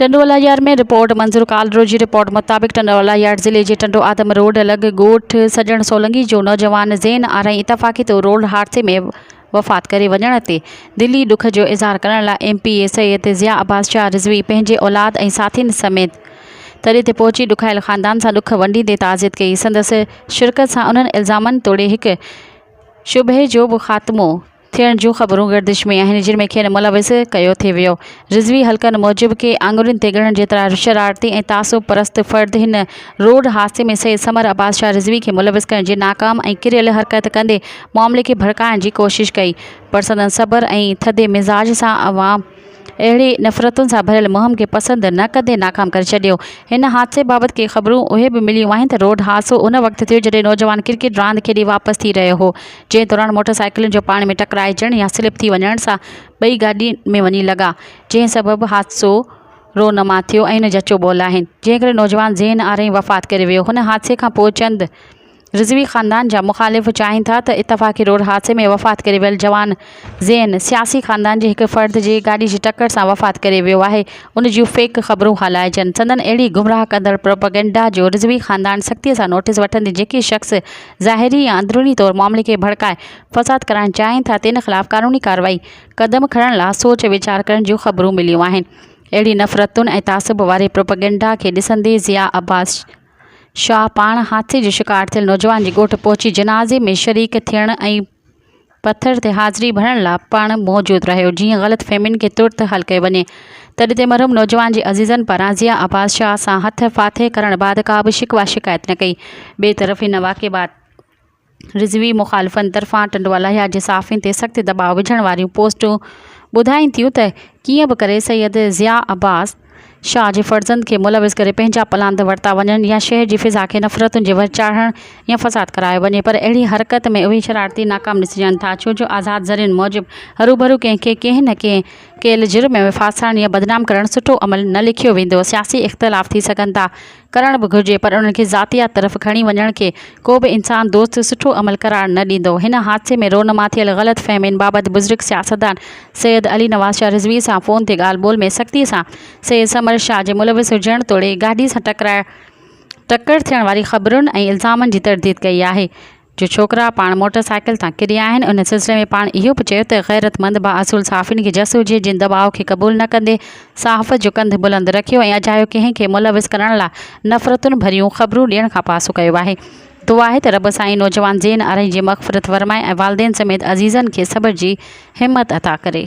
Tando Allah Yar ۾ report Manzoor Kalro جي report مطابق ٽنڊو الله يار ضلعي جي ٽنڊو آدم روڊ لڳ ڳوٺ سڄڻ سولنگي جو نوجوان زين آرائين اتفاقي طور روڊ حادثي ۾ وفات ڪري وڃڻ تي دلي ڏک جو اظهار ڪرڻ لاء M P A Syed Zia Abbas Shah Rizvi پنهنجي اولاد ۽ ساٿين سميت تڏي تي پهچي ڏکايل خاندان سان ڏک ونڊيندي تعزيت ڪئي سندس شرڪت سان انهن الزامن توڙي هڪ شبهي جو به خاتمو ٿيڻ جون خبرون گردش ۾ آهن جن ۾ کين ملوث ڪيو ٿي ويو رضوي حلقن موجب ڪي آڱرين تي ڳڻڻ جيترا شرارتي ۽ تعصب پرست فرد هن روڊ حادثي ۾ سيد ثمر عباس شاهه رضوي کي ملوث ڪرڻ جي ناڪام ۽ ڪريل حرڪت ڪندي معاملي کي ڀڙڪائڻ جي ڪوشش ڪئي پر سندن صبر ۽ ٿڌي مزاج سان عوام اهڙي نفرتن سان ڀريل مهم کي پسند نه ڪندي ناڪام ڪري ڇڏيو. هن حادثي بابت ڪي خبرون اهي به مليون آهن ته روڊ حادثو ان وقت ٿيو جڏهن نوجوان ڪرڪيٽ راند کيڏي واپس ٿي رهيو هو جنهن دوران موٽر سائيڪلن جو پاڻي ۾ ٽڪرائجڻ يا سلپ ٿي وڃڻ سان ٻئي گاڏي ۾ وڃي لڳا جنهن سبب حادثو رونما ٿيو ۽ جچو ٻول آهن جنهن ڪري نوجوان ذهن آرهين وفات ڪري ويو هن حادثي کان پوء چند رضوي خاندان جا مخالف چاهين ٿا ته اتفاقي روڊ حادثي ۾ وفات ڪري ويل جوان زين سياسي خاندان جي هڪ فرد جي گاڏي جي ٽڪر سان وفات ڪري ويو آهي ان جون فيڪ خبرون هلائجن سندن اهڙي گمراهه ڪندڙ پروپيگنڊا جو رضوي خاندان سختي سان نوٽيس وٺندي جيڪي شخص ظاهري يا اندروني طور معاملي کي ڀڙڪائي فساد ڪرائڻ چاهين ٿا تن خلاف قانوني ڪارروائي قدم کڻڻ لا سوچ ويچار ڪرڻ جون خبرون مليون آهن اهڙي نفرتن ۽ تعصب واري پروپيگنڊا کي ڏسندي ضياء عباس شاهه پاڻ حادثي جو شڪار ٿيل نوجوان جي ڳوٺ پهچي جنازي ۾ شريڪ ٿيڻ ۽ پٿر تي حاضري ڀرڻ لاء پڻ موجود رهيو جيئن غلط فهمين کي ترت حل ڪيو وڃي تڏهن تي مرحوم نوجوان جي عزيزن پاران ضيا عباس شاهه سان هٿ ڦاٿي ڪرڻ بعد ڪا به شڪوه شڪايت نه ڪئي ٻئي طرف هن واقعي بعد رضوي مخالفن طرفان ٽنڊوالهيار جي صحافين تي سخت دٻاء وجهڻ واريون پوسٽون ٻڌائين ٿيون ته ڪيئن به ڪري سيد ضياء عباس شاهه جي فرزند کي ملوث ڪري پنهنجا پلاند ورتا وڃن يا شهر جي فضا کي نفرتن جي وهه چاڙهڻ يا فساد ڪرايو وڃي پر اهڙي حرڪت ۾ اهي شرارتي ناڪام ڏسجن ٿا ڇو جو آزاد ذريعن موجب هروڀرو ڪنهن کي ڪنهن نه ڪنهن ڪيل جرم ۾ ڦاسائڻ يا بدنام ڪرڻ سٺو عمل نه ليکيو ويندو سياسي اختلاف ٿي سگهن ٿا ڪرڻ به گهرجي پر انهن کي ذاتيات طرف کڻي وڃڻ کي ڪو به انسان دوست سٺو عمل قرار نه ڏيندو هن حادثي ۾ رونما ٿيل غلط فهمين بابت بزرگ سياستدان سيد علي نواز شاهه رضوي سان فون تي ڳالهه ٻولهه ۾ سختي سان سيد ثمر شاهه جي ملوث هجڻ توڙي گاڏي سان ٽڪرائڻ ٽڪر ٿيڻ واري خبرن ۽ الزامن جي ترديد ڪئي آهي جو ڇوڪرا پاڻ موٽر سائيڪل تان ڪري آهن ان سلسلي ۾ پاڻ اهو به چيو ته غيرتمند با اصول صحافين کي جس هجي جن دٻاء کي قبول نه ڪندي صحافت جو ڪنڌ بلند رکيو ۽ اجايو ڪنهن کي ملوث ڪرڻ لاء نفرتن ڀريون خبرون ڏيڻ کان پاسو ڪيو آهي دعا آهي ته رب سائين نوجوان زين آرائين جي مغفرت فرمائي ۽ والدين سميت عزيزن کي صبر جي همت عطا ڪري.